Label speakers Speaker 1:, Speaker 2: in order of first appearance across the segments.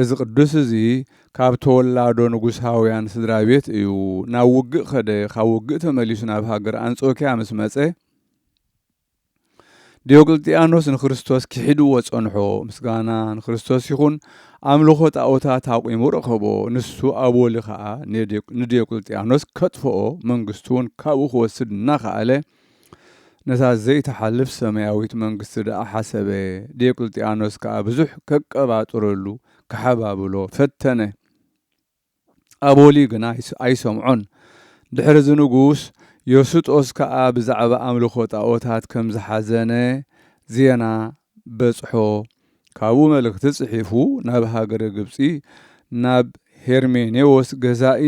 Speaker 1: እዚ ቅዱስ እዚ ካብ ተወላዶ ንጉሳውያን ስድራ ቤት እዩ። ናብ ውግእ ከደ፣ ካብ ውግእ ተመሊሱ ናብ ሃገር ኣንጾኪያ ምስ መጸ፣ ዲዮቅልጥያኖስ ንክርስቶስ ኪሒድዎ ጸንሖ፣ ምስጋና ንክርስቶስ ይኹን፣ ኣምልኾ ጣኦታት ኣቑሙ ረኸቦ፣ ንሱ ኣብ ወሊ ከኣ ንዲዮቅልጥያኖስ ከጥፍኦ፣ መንግስቱውን ካብኡ ክወስድ እናኸኣለ፣ ነታ ዘይትሓልፍ ሰማያዊት መንግስቲ ደኣ ሓሰበ፣ ዲዮቅልጥያኖስ ከኣ ብዙሕ ከቀባጥረሉ ክሓባብሎ ፈተነ። ኣቦሊ ግና ኣይሰምዖን። ድሕርዚ ንጉስ ዮስጦስ ከኣ ብዛዕባ ኣምልኾ ጣኦታት ከም ዝሓዘነ ዜና በጽሖ፣ ካብኡ መልእኽቲ ጽሒፉ ናብ ሃገረ ግብጺ ናብ ሄርሜኔዎስ ገዛኢ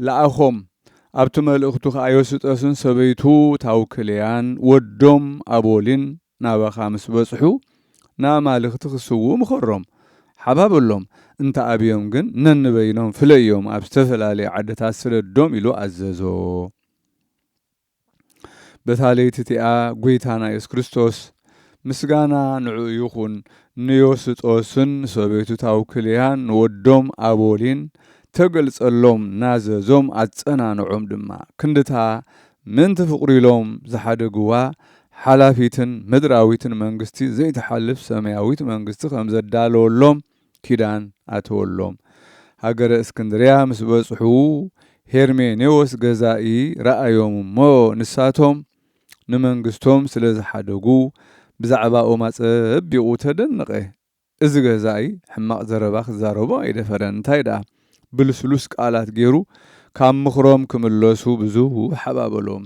Speaker 1: ለኣኾም። ኣብቲ መልእኽቱ ከኣ ዮስጠስን ሰበይቱ ታውክልያን ወዶም ኣቦሊን ናባኻ ምስ በጽሑ ንኣማልኽቲ ክስውኡ ምኸሮም። ሓባበሎም። እንተ ኣብዮም ግን ነንበይኖም ፍለዮም ኣብ ዝተፈላለየ ዓድታት ስደዶም ኢሉ ኣዘዞ። በታ ለይቲ እቲኣ ጐይታና የሱስ ክርስቶስ ምስጋና ንዕኡ ይኹን ንዮስጦስን ሰበይቱ ታውክልያን ንወዶም ኣቦሊን ተገልጸሎም ናዘዞም ኣጸናንዖም ድማ ክንድታ ምእንቲ ፍቕሩ ኢሎም ዝሓደግዋ ሓላፊትን ምድራዊትን መንግስቲ ዘይትሓልፍ ሰማያዊት መንግስቲ ከምዘዳለወሎም ኪዳን ኣተወሎም። ሃገረ እስክንድርያ ምስ በጽሑ ሄርሜኔዎስ ገዛኢ ረኣዮም እሞ ንሳቶም ንመንግስቶም ስለ ዝሓደጉ ብዛዕባኦም ኣጸቢቑ ተደነቐ። እዚ ገዛኢ ሕማቕ ዘረባ ክዛረቦ ኣይደፈረን እንታይ ደኣ ብልስሉስ ቃላት ገይሩ ካብ ምኽሮም ክምለሱ ብዙሕ ሓባበሎም።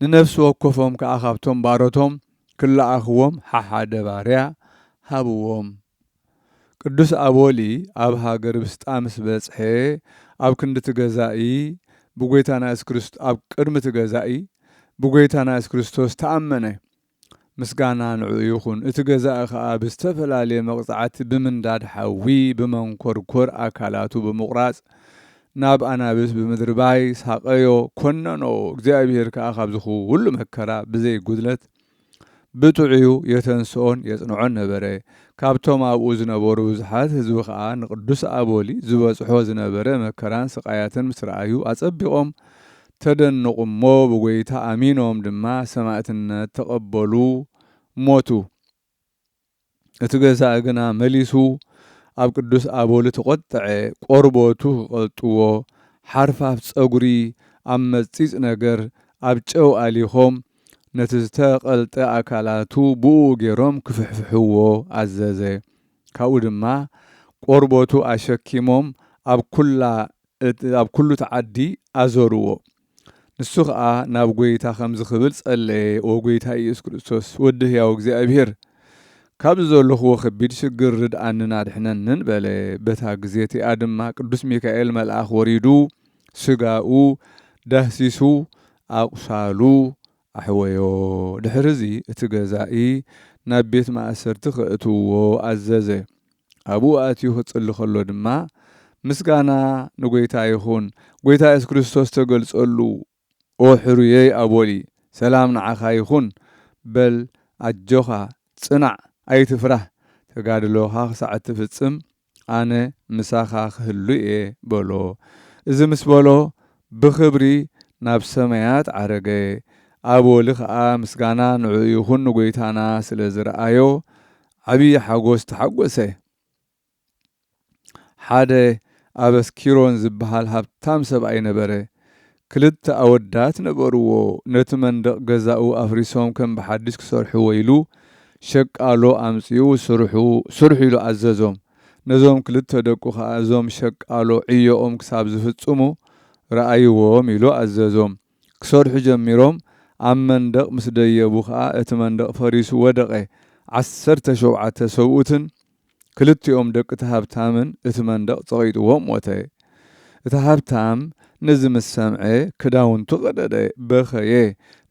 Speaker 1: ንነፍሲ ወከፎም ከኣ ካብቶም ባሮቶም ክለኣኽዎም ሓሓደ ባርያ ሃብዎም። ቅዱስ ኣቦሊ ኣብ ሃገር ብስጣ ምስ በጽሔ ኣብ ክንዲ እቲ ገዛኢ ብጐይታና የሱስ ክርስቶስ ኣብ ቅድሚ እቲ ገዛኢ ብጐይታና የሱስ ክርስቶስ ተኣመነ። ምስጋና ንዕኡ ይኹን፣ እቲ ገዛኢ ከኣ ብዝተፈላለየ መቕጻዕቲ ብምንዳድ ሓዊ ብመንኮርኮር ኣካላቱ ብምቑራጽ ናብ ኣናብስ ብምድርባይ ሳቐዮ፣ ኮነኖ፣ እግዚኣብሄር ከኣ ካብዚ ኹሉ መከራ ብዘይ ጉድለት ብጥዑዩ የተንስኦን የጽንዖን ነበረ። ካብቶም ኣብኡ ዝነበሩ ብዙሓት ህዝቢ ከኣ ንቅዱስ ኣቦሊ ዝበጽሖ ዝነበረ መከራን ስቓያትን ምስ ረኣዩ ኣጸቢቖም ተደንቑ እሞ ብጐይታ ኣሚኖም ድማ ሰማእትነት ተቐበሉ ሞቱ። እቲ ገዛኢ ግና መሊሱ ኣብ ቅዱስ ኣቦሊ ተቖጠዐ፣ ቆርበቱ ክቐልጥዎ ሓርፋፍ ጸጉሪ ኣብ መጽጺጽ ነገር ኣብ ጨው ኣሊኾም ነቲ ዝተቐልጠ ኣካላቱ ብእኡ ገይሮም ክፍሕፍሕዎ ኣዘዘ። ካብኡ ድማ ቆርበቱ ኣሸኪሞም ኣብ ኩላ ኣብ ኩሉ እቲ ዓዲ ኣዞርዎ። ንሱ ኸኣ ናብ ጐይታ ከምዚ ክብል ጸለየ፣ ኦ ጐይታይ ኢየሱስ ክርስቶስ፣ ወዲ ህያው እግዚኣብሄር፣ ካብዚ ዘሎኽዎ ከቢድ ሽግር ርድኣንን ኣድሕነንን በለ። በታ ግዜ እቲኣ ድማ ቅዱስ ሚካኤል መልኣኽ ወሪዱ ስጋኡ ዳህሲሱ ኣቝሳሉ ኣሕወዮ፣ ድሕርዚ እቲ ገዛኢ ናብ ቤት ማእሰርቲ ከእትውዎ ኣዘዘ። ኣብኡ ኣትዩ ክጽሊ ከሎ ድማ፣ ምስጋና ንጐይታ ይኹን፣ ጐይታ የሱስ ክርስቶስ ተገልጸሉ፣ ኦ ሕሩየይ ኣቦሊ፣ ሰላም ንዓኻ ይኹን፣ በል ኣጆኻ፣ ጽናዕ፣ ኣይትፍራህ፣ ተጋድሎኻ ክሳዕ እትፍጽም ኣነ ምሳኻ ኽህሉ እየ በሎ። እዚ ምስ በሎ፣ ብኽብሪ ናብ ሰማያት ዓረገ። ኣብ ወሊ ኸኣ ምስጋና ንዕኡ ይኹን ንጐይታና ስለ ዝረኣዮ ዓብዪ ሓጐስ ተሓጐሰ። ሓደ ኣብ ኣስኪሮን ዚብሃል ሃብታም ሰብኣይ ነበረ። ክልተ ኣወዳት ነበርዎ ነቲ መንደቕ ገዛኡ ኣፍሪሶም ከም ብሓድሽ ክሰርሕዎ ኢሉ ሸቃሎ ኣምጺኡ ስርሑ ስርሑ ኢሉ ኣዘዞም ነዞም ክልተ ደቁ ከኣ እዞም ሸቃሎ ዕዮኦም ክሳብ ዝፍጽሙ ረኣይዎም ኢሉ ኣዘዞም ክሰርሑ ጀሚሮም ኣብ መንደቕ ምስ ደየቡ ከኣ እቲ መንደቕ ፈሪሱ ወደቐ ዓሰርተ ሸውዓተ ሰብኡትን ክልቲኦም ደቂ'ቲ ሃብታምን እቲ መንደቕ ጸቒጡዎ ሞተ። እቲ ሃብታም ነዚ ምስ ሰምዐ ክዳውንቱ ቀደደ፣ በኸየ፣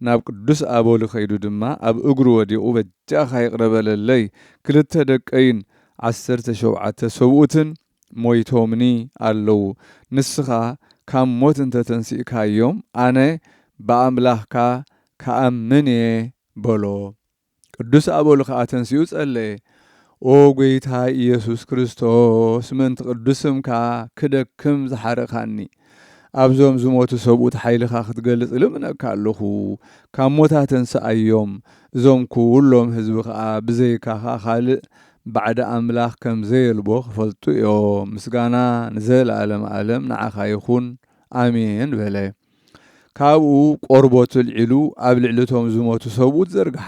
Speaker 1: ናብ ቅዱስ ኣቦሊ ከይዱ ድማ ኣብ እግሩ ወዲቑ በጃኻ ይቕረ በለለይ፣ ክልተ ደቀይን ዓሰርተ ሾብዓተ ሰብኡትን ሞይቶምኒ ኣለዉ፣ ንስኻ ካብ ሞት እንተ ተንሲእካዮም ኣነ ብኣምላኽካ ክኣምን'የ በሎ። ቅዱስ ኣበሉ ከኣ ተንሲኡ ጸለየ። ኦ ጐይታይ ኢየሱስ ክርስቶስ ምእንቲ ቅዱስ ስምካ ክደክም ዝሓረኻኒ፣ ኣብዞም ዝሞቱ ሰብኡት ሓይልኻ ክትገልጽ እልምነካ ኣሎኹ። ካብ ሞት ኣተንስኣዮም፣ እዞም ኩሎም ሕዝቢ ከኣ ብዘይካኻ ካልእ ባዕዲ ኣምላኽ ከም ዘየልቦ ክፈልጡ እዮም። ምስጋና ንዘለዓለም ኣለም ንዓኻ ይኹን። ኣሜን በለ። ካብኡ ቆርቦቱ ኣልዒሉ ኣብ ልዕሊ እቶም ዝሞቱ ሰብኡት ዘርግሓ።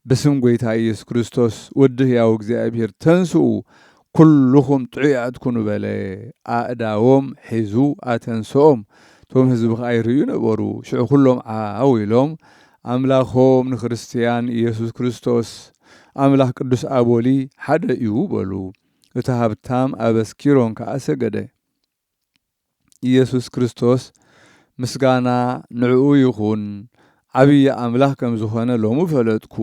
Speaker 1: ብስም ጐይታ ኢየሱስ ክርስቶስ ወዲ ሕያው እግዚኣብሔር ተንሥኡ ኵልኹም ጥዑያት ኩኑ በለ። ኣእዳዎም ሒዙ ኣተንሥኦም። እቶም ሕዝቢ ኸኣ ይርእዩ ነበሩ። ሽዑ ኵሎም ዓው ኢሎም ኣምላኾም ንክርስትያን ኢየሱስ ክርስቶስ ኣምላኽ ቅዱስ ኣቦሊ ሓደ እዩ በሉ። እቲ ሃብታም ኣበስ ኪሮን ከኣ ሰገደ። ኢየሱስ ክርስቶስ ምስጋና ንዕኡ ይኹን ዓብዪ ኣምላኽ ከም ዝኾነ ሎሚ ፈለጥኩ፣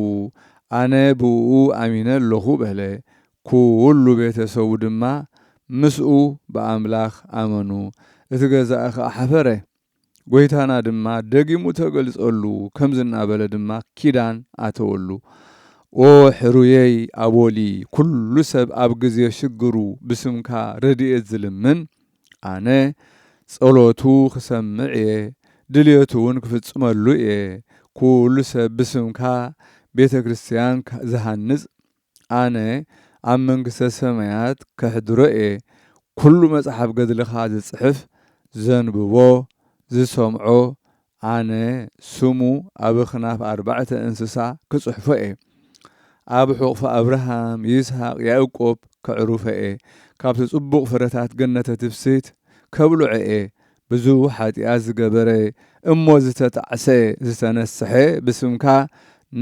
Speaker 1: ኣነ ብእኡ ኣሚነ ኣለኹ በለ። ኩሉ ቤተ ሰቡ ድማ ምስኡ ብኣምላኽ ኣመኑ። እቲ ገዛኢ ኸኣ ሓፈረ። ጐይታና ድማ ደጊሙ ተገልጸሉ፣ ከምዚ እናበለ ድማ ኪዳን ኣተወሉ፣ ኦ ሕሩየይ ኣቦሊ፣ ኵሉ ሰብ ኣብ ግዜ ሽግሩ ብስምካ ረድኤት ዝልምን፣ ኣነ ጸሎቱ ክሰምዕ እየ፣ ድልየቱውን ክፍጽመሉ እየ፣ ኵሉ ሰብ ብስምካ ቤተ ክርስቲያን ዝሃንጽ ኣነ ኣብ መንግስተ ሰማያት ከሕድሮ እየ ኩሉ መጽሓፍ ገድልኻ ዝጽሕፍ ዘንብቦ ዝሰምዖ ኣነ ስሙ ኣብ ኣኽናፍ ኣርባዕተ እንስሳ ክጽሕፎ እየ ኣብ ሑቕፊ ኣብርሃም ይስሃቅ ያእቆብ ከዕሩፎ እየ ካብቲ ጽቡቕ ፍረታት ገነተ ትፍስህት ከብልዖ እየ ብዙ ሓጥያት ዝገበረ እሞ ዝተጣዕሰ ዝተነስሐ ብስምካ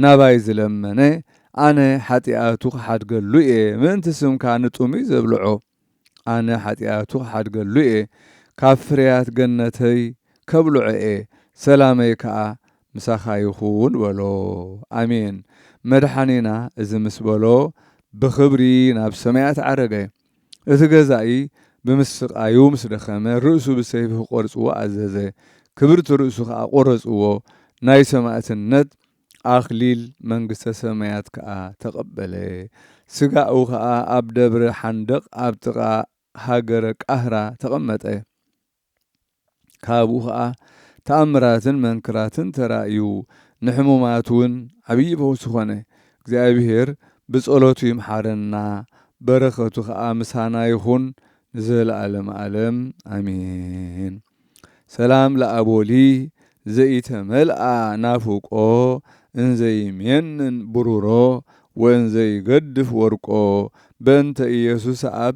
Speaker 1: ናባይ ዝለመነ ኣነ ሓጥያቱ ክሓድገሉ እየ ምእንቲ ስምካ ንጥሙይ ዘብልዖ ኣነ ሓጥያቱ ክሓድገሉ እየ ካብ ፍርያት ገነተይ ከብልዖ እየ ሰላመይ ከኣ ምሳካ ይኩን በሎ ኣሜን መድሓኒና እዚ ምስ በሎ ብክብሪ ናብ ሰማያት ዓረገ እቲ ገዛኢ ብምስቃዩ ምስ ደኸመ ርእሱ ብሰይፊ ክቆርጽዎ ኣዘዘ ክብርቲ ርእሱ ከኣ ቆረጽዎ ናይ ሰማእትነት ኣክሊል መንግስተ ሰማያት ከኣ ተቀበለ ስጋኡ ከኣ ኣብ ደብረ ሓንደቅ ኣብ ጥቃ ሃገረ ቃህራ ተቀመጠ። ካብኡ ኸኣ ተኣምራትን መንክራትን ተራእዩ፣ ንሕሙማት ውን ዓብዪ ፈውሲ ኾነ። እግዚኣብሄር ብጸሎቱ ይምሓረና፣ በረኸቱ ኸኣ ምሳና ይኹን ንዘለኣለመ ኣለም ኣሜን። ሰላም ለኣቦሊ ዘኢተመልኣ ናፍቆ እንዘ ይሜንን ብሩሮ ወእንዘ ይገድፍ ወርቆ በእንተ ኢየሱስ ኣብ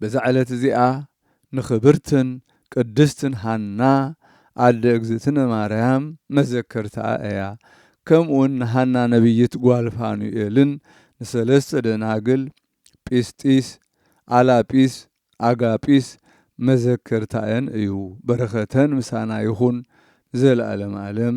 Speaker 1: በዛ ዕለት እዚኣ ንክብርትን ቅድስትን ሃና ኣደ እግዝእትነ ማርያም መዘከርታኣ እያ። ከምኡውን ንሃና ነብይት ጓል ፋኑኤልን ንሰለስተ ደናግል ጲስጢስ፣ ኣላጲስ፣ ኣጋጲስ መዘከርታኤን እዩ። በረከተን ምሳና ይኹን ንዘለኣለም ኣለም።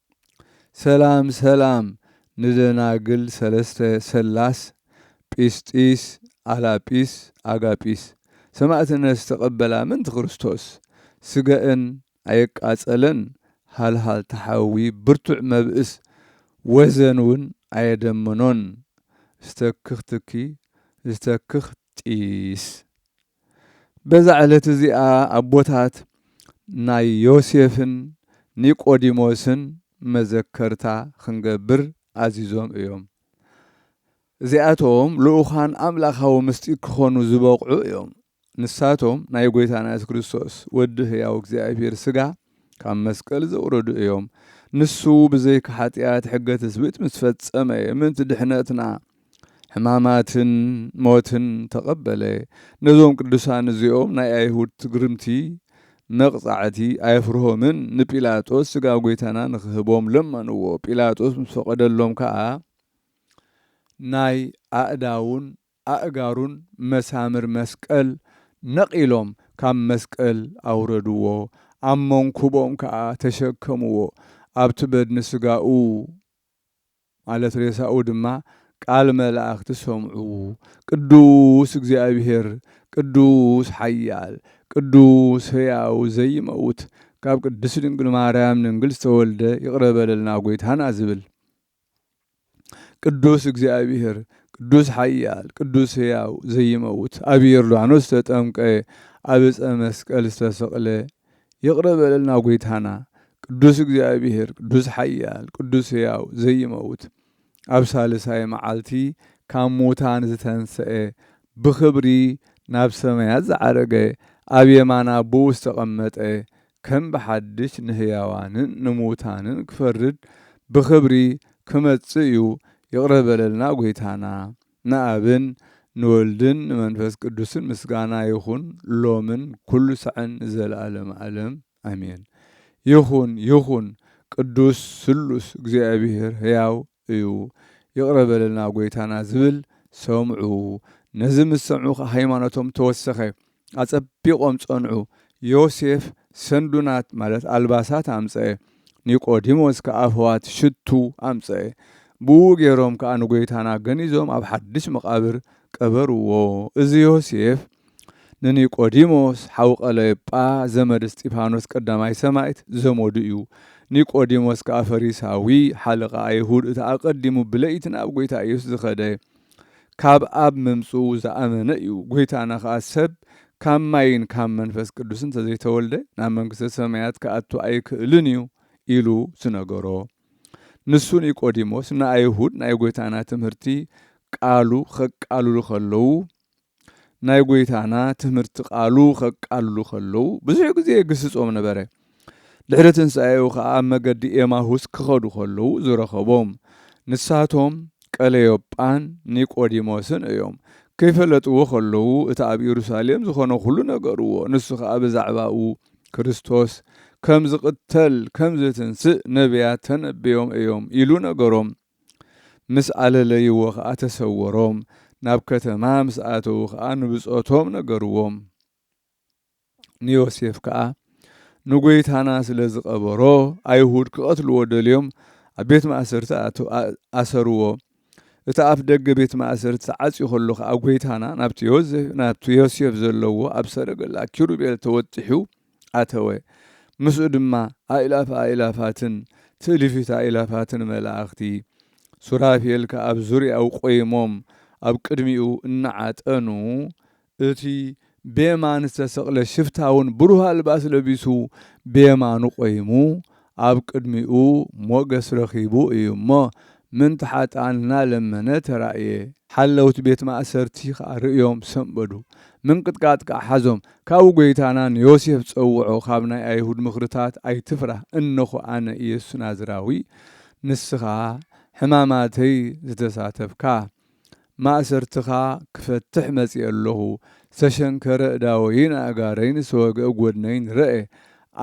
Speaker 1: ሰላም ሰላም ንደናግል ሰለስተ ሰላስ ጲስጢስ ኣላጲስ ኣጋጲስ ሰማእትነት ዝተቀበላ ምንቲ ክርስቶስ ስገእን ኣየቃጸለን ሃልሃልታ ሓዊ ብርቱዕ መብእስ ወዘን ውን ኣየደመኖን ዝተክኽ ትኪ ዝተክኽ ጢስ በዛ ዕለት እዚኣ ኣቦታት ናይ ዮሴፍን ኒቆዲሞስን መዘከርታ ክንገብር ኣዚዞም እዮም። እዚኣቶም ልኡካን ኣምላኻዊ ምስጢር ክኾኑ ዝበቕዑ እዮም። ንሳቶም ናይ ጎይታና የሱስ ክርስቶስ ወዲ ህያው እግዚኣብሔር ስጋ ካብ መስቀል ዘውረዱ እዮም። ንሱ ብዘይካ ሓጢኣት ሕገ ትስብእት ምስ ፈጸመ ምእንቲ ድሕነትና ሕማማትን ሞትን ተቐበለ። ነዞም ቅዱሳን እዚኦም ናይ ኣይሁድ ትግርምቲ መቕጻዕቲ ኣየፍርሆምን፣ ንጲላጦስ ስጋ ጐይታና ንኽህቦም ለመንዎ። ጲላጦስ ምስ ፈቐደሎም ከኣ ናይ ኣእዳዉን ኣእጋሩን መሳምር መስቀል ነቒሎም ካብ መስቀል ኣውረድዎ፣ ኣብ መንኵቦም ከኣ ተሸከምዎ፣ ኣብቲ በድኒ ስጋኡ ማለት ሬሳኡ ድማ ቃል መላእክቲ ሰምዑ፣ ቅዱስ እግዚኣብሔር፣ ቅዱስ ሓያል፣ ቅዱስ ሕያው ዘይመውት፣ ካብ ቅድስት ድንግል ማርያም ንንግል ዝተወልደ ይቕረ በለልና ጎይታና ዝብል። ቅዱስ እግዚኣብሔር፣ ቅዱስ ሓያል፣ ቅዱስ ሕያው ዘይመውት፣ ኣብ ዮርዳኖስ ዝተጠምቀ፣ ኣብ ዕፀ መስቀል ዝተሰቕለ፣ ይቕረ በለልና ጎይታና ቅዱስ እግዚኣብሔር ቅዱስ ሓያል ቅዱስ ሕያው ዘይመውት ኣብ ሳልሳይ መዓልቲ ካብ ሙታን ዝተንሰኤ ብኽብሪ ናብ ሰማያት ዝዓረገ ኣብ የማን ኣቦኡ ዝተቐመጠ ከም ብሓድሽ ንሕያዋንን ንሙታንን ክፈርድ ብኽብሪ ክመጽእ እዩ ይቕረ በለልና ጎይታና። ንኣብን ንወልድን ንመንፈስ ቅዱስን ምስጋና ይኹን ሎምን ኩሉ ሳዕን ንዘለዓለመ ዓለም ኣሜን። ይኹን ይኹን ቅዱስ ስሉስ እግዚኣብሔር ሕያው እዩ ይቕረ በለልና ጎይታና ዝብል ሰምዑ ነዚ ምስ ሰምዑ ከኣ ሃይማኖቶም ተወሰኸ ኣጸቢቖም ጸንዑ። ዮሴፍ ሰንዱናት፣ ማለት ኣልባሳት፣ ኣምጽኤ። ኒቆዲሞስ ከኣ ፍዋት ሽቱ ኣምጽኤ። ብእኡ ገይሮም ከኣ ንጐይታና ገኒዞም ኣብ ሓድሽ መቓብር ቀበርዎ። እዚ ዮሴፍ ንኒቆዲሞስ፣ ሓው ቐለዮጳ፣ ዘመድ እስጢፋኖስ ቀዳማይ ሰማዕት፣ ዘመዱ እዩ። ኒቆዲሞስ ከኣ ፈሪሳዊ፣ ሓለቓ ኣይሁድ፣ እቲ ኣቐዲሙ ብለይቲ ናብ ጐይታ ኢየሱስ ዝኸደ፣ ካብ ኣብ ምምጽኡ ዝኣመነ እዩ። ጐይታና ከኣ ሰብ ካብ ማይን ካብ መንፈስ ቅዱስ እንተ ዘይተወልደ ናብ መንግስተ ሰማያት ክኣቱ ኣይክእልን እዩ ኢሉ ዝነገሮ ንሱ ኒቆዲሞስ ንኣይሁድ ናይ ጐይታና ትምህርቲ ቃሉ ከቃልሉ ከለዉ ናይ ጐይታና ትምህርቲ ቃሉ ከቃሉ ከለዉ ብዙሕ ግዜ የግስጾም ነበረ። ድሕሪ ትንሣኤኡ ኸኣ ኣብ መገዲ ኤማሁስ ክኸዱ ከለዉ ዝረኸቦም ንሳቶም ቀለዮጳን ኒቆዲሞስን እዮም። ከይፈለጥዎ ከለዉ እቲ ኣብ ኢየሩሳሌም ዝኾነ ኩሉ ነገርዎ። ንሱ ኸኣ ብዛዕባኡ ክርስቶስ ከም ዝቕተል ከም ዝትንሥእ ነቢያት ተነብዮም እዮም ኢሉ ነገሮም። ምስ ኣለለይዎ ኸኣ ተሰወሮም፣ ናብ ከተማ ምስ ኣተዉ ኸኣ ንብጾቶም ነገርዎም። ንዮሴፍ ከኣ ንጐይታና ስለ ዝቐበሮ፣ ኣይሁድ ክቐትልዎ ደልዮም ኣብ ቤት ማእሰርቲ ኣሰርዎ። እቲ ኣፍ ደገ ቤት ማእሰርቲ ተዓጽዩ ኸሎ ኸኣ ጐይታና ናብቲ ዮሴፍ ዘለዎ ኣብ ሰረገላ ኪሩቤል ተወጢሑ ኣተወ። ምስኡ ድማ ኣእላፍ ኣእላፋትን ትእልፊት ኣእላፋትን መላእኽቲ። ሱራፌል ከኣ ኣብ ዙርያኡ ቈይሞም ኣብ ቅድሚኡ እናዓጠኑ፣ እቲ ብየማን ዝተሰቕለ ሽፍታውን ብሩህ ኣልባስ ለቢሱ ብየማኑ ቈይሙ ኣብ ቅድሚኡ ሞገስ ረኺቡ እዩ እሞ፣ ምንት ሓጥኣን እናለመነ ተራእየ። ሓለውቲ ቤት ማእሰርቲ ኸኣ ርእዮም ሰንበዱ፣ ምንቅጥቃጥ ከኣ ሓዞም። ካብኡ ጐይታና ንዮሴፍ ጸውዖ፣ ካብ ናይ ኣይሁድ ምኽርታት ኣይትፍራህ፣ እንሆ ኣነ ኢየሱስ ናዝራዊ፣ ንስኻ ሕማማተይ ዝተሳተፍካ፣ ማእሰርትኻ ክፈትሕ መጺኤ ኣሎኹ። ዝተሸንከረ ኣእዳወይን ኣእጋረይን ዝተወግአ ጐድነይን ረኤ።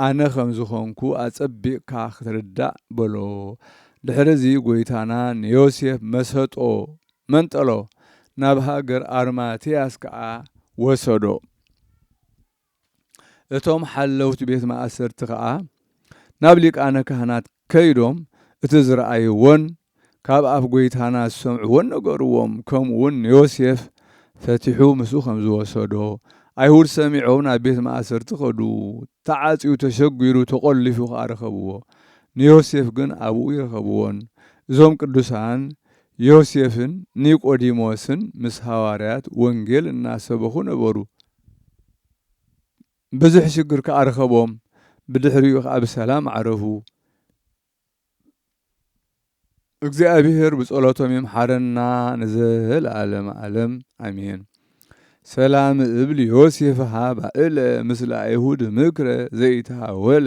Speaker 1: ኣነ ከም ዝዀንኩ ኣጸቢቕካ ኽትርዳእ በሎ። ድሕርዚ ጐይታና ንዮሴፍ መሰጦ፣ መንጠሎ፣ ናብ ሃገር ኣርማትያስ ከኣ ወሰዶ። እቶም ሓለውቲ ቤት ማእሰርቲ ከኣ ናብ ሊቃነ ካህናት ከይዶም እቲ ዝረኣይዎን ካብ ኣፍ ጐይታና ዝሰምዕዎን ነገርዎም፣ ከምኡውን ንዮሴፍ ፈቲሑ ምስኡ ከም ዝወሰዶ። ኣይሁድ ሰሚዖም ናብ ቤት ማእሰርቲ ከዱ፣ ተዓጽዩ፣ ተሸጒሩ፣ ተቖሊፉ ከኣ ረኸብዎ። ንዮሴፍ ግን ኣብኡ ኣይረኸብዎን። እዞም ቅዱሳን ዮሴፍን ኒቆዲሞስን ምስ ሃዋርያት ወንጌል እናሰበኹ ነበሩ። ብዙሕ ሽግር ከኣ ረኸቦም ብድሕሪኡ ከኣ ብሰላም ዓረፉ። እግዚኣብሔር ብጸሎቶም ይምሓረና ንዘለዓለም ዓለም ኣሜን። ሰላም እብል ዮሴፍ ሃባእለ ምስለ ኣይሁድ ምክረ ዘይተሃወለ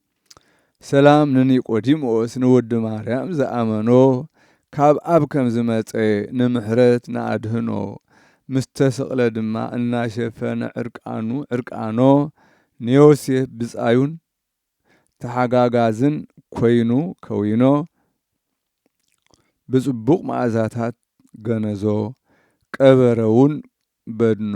Speaker 1: ሰላም ንኒቆዲሞስ ንወዲ ማርያም ዝኣመኖ ካብ ኣብ ከም ዝመጸ ንምሕረት ንኣድህኖ ምስ ተስቕለ ድማ እናሸፈነ ዕርቃኑ ዕርቃኖ ንዮሴፍ ብጻዩን ተሓጋጋዝን ኮይኑ ከዊኖ ብጽቡቕ መኣዛታት ገነዞ ቀበረውን በድኖ።